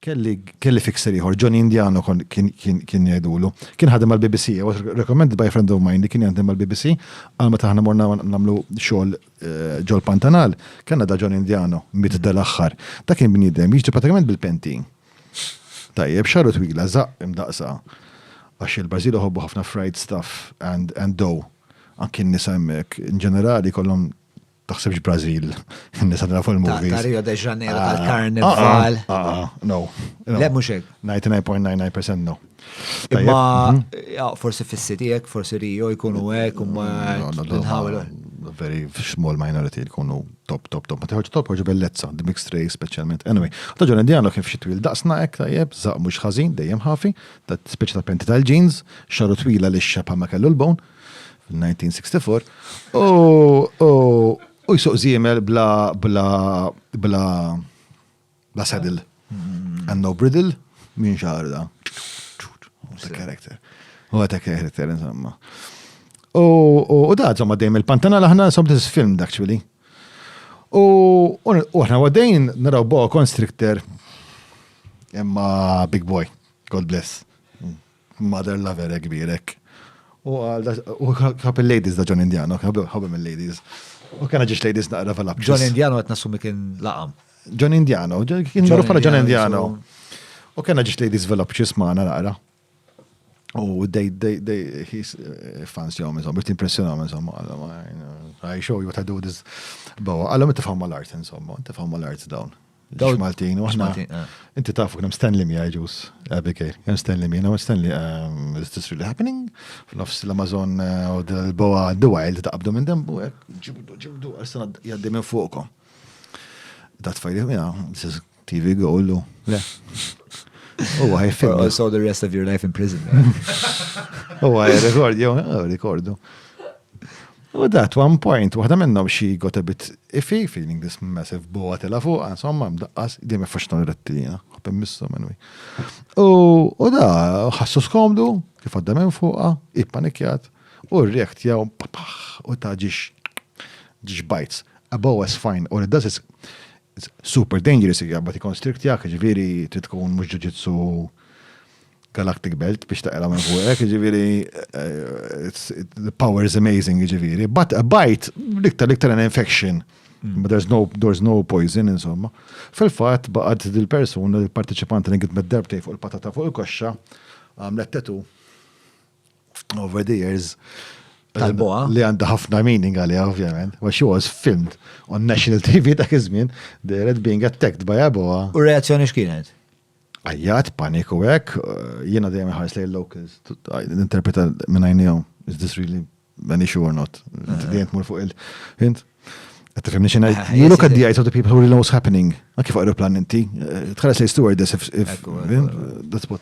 Kelli, kelli fixer ieħor, Johnny Indiano kien jgħidulu. Kien ħadem mal-BBC, I was recommended by a friend of mine li kien jaħdem mal-BBC, għal meta aħna morna nagħmlu xogħol eh, ġol Pantanal, kellna da Johnny Indiano, miet dal-aħħar. Dak kien bniedem, jiġri pratikament bil-penti. Tajjeb, xaru twila, zaq imdaqsa. Għax il-Brażil uħobbu ħafna fried stuff and, and dough. Anki nisa hemmhekk, in ġenerali kollhom Taħsibx Brazil, nisa tara fuq il-movies. Ta' Rio de Janeiro ah, tal-Karnival. Ah, ah, no. Le mhux hekk. 99.99% no. Imma mhm. forsi fis-city hekk, forsi Rio jkunu hekk u ma nħawel. Very small minority jkunu top, top, top. Ma tiħoġ top, ħoġ bellezza, the mixed race specialment. Anyway, ta' ġon indiano kif xi twil daqsna hekk tajjeb, zaq mhux ħażin, dejjem ħafi, ta' speċi ta' penti tal-jeans, xaru twila li xxabħa ma kellu l-bone, 1964, u jsuq zimel bla bla bla bla saddle mm-hmm. and no bridle minn xarda. What a character. What a character, insomma. U da, insomma, dejjem il-pantana laħna sob this film actually. U aħna għadajn naraw bo constrictor imma big boy, God bless. Mother lover hekk kbir hekk. U għal u ħab il-ladies da John Indiano, ħabem il-ladies. U kena ġiex ladies naqra fil John Indiano qed nassumi kien laqam. John Indiano, kien marruf bħala John Indiano. U kena ġiex ladies velopċis maħna naqra. U they, they, they, he's eh, fans jom, insomma, biex t-impressjonam, insomma, I show you what I do this. Bawa, għallom t-fam mal-art, insomma, t-fam mal-art dawn. Dawl Maltin, u aħna. Eh. Inti tafu kien Stanley Mia ġus, Abigail, kien Stanley Mia, no Stanley, um, is this really happening? F'nofs l-Amazon eh, u l-boa the wild ta' qabdu minn dembu, eh, ġibdu, ġibdu, għassan jaddi minn fuqkom. Dat fajli mia, this is TV goal, u le. U għaj film. I saw the rest of your life in prison. U għaj rekord, jow, rekordu. U that one point, waħda minnhom she got a bit iffy, feeling this massive boa tela fuq, insomma, mdaqqas, di me faxna l-retti jena, għabem missu minwi. U da, ħassu skomdu, kif għadda minn fuqa, ippanikjat, u r-rekt jaw, u ta' ġiġ, ġiġ bajts. A boa is fine, or it does is super dangerous, jgħabba ti konstriktjak, ġviri, trid tkun mux ġuġitsu Galactic Belt biex taqra minn fuqek, ġiviri, eh, the power is amazing, ġiviri. But a bite, liktar liktar an infection. Hmm. But there's no, there's no poison, insomma. Fil-fat, baqad dil-persuna, il-parteċipant li għidmet darbtej fuq il-patata fuq il-koxxa, għamlet tetu over the years. Tal-boa. Li għanda ħafna meaning għalija, ovvjament. Wa she was filmed on national TV dak iż-żmien, the red being attacked by a boa. U reazzjoni x'kienet? Għajjat, paniku hekk, jiena dejjem inħares lejn locals, ninterpreta minn għajnejhom, is this really an issue or not? Dejjem tmur fuq il-hint. Tifhimni xi ngħid? You look at the eyes of the people who really know what's happening. Anki fuq aeroplan inti, tħares lejn stewardess if that's what.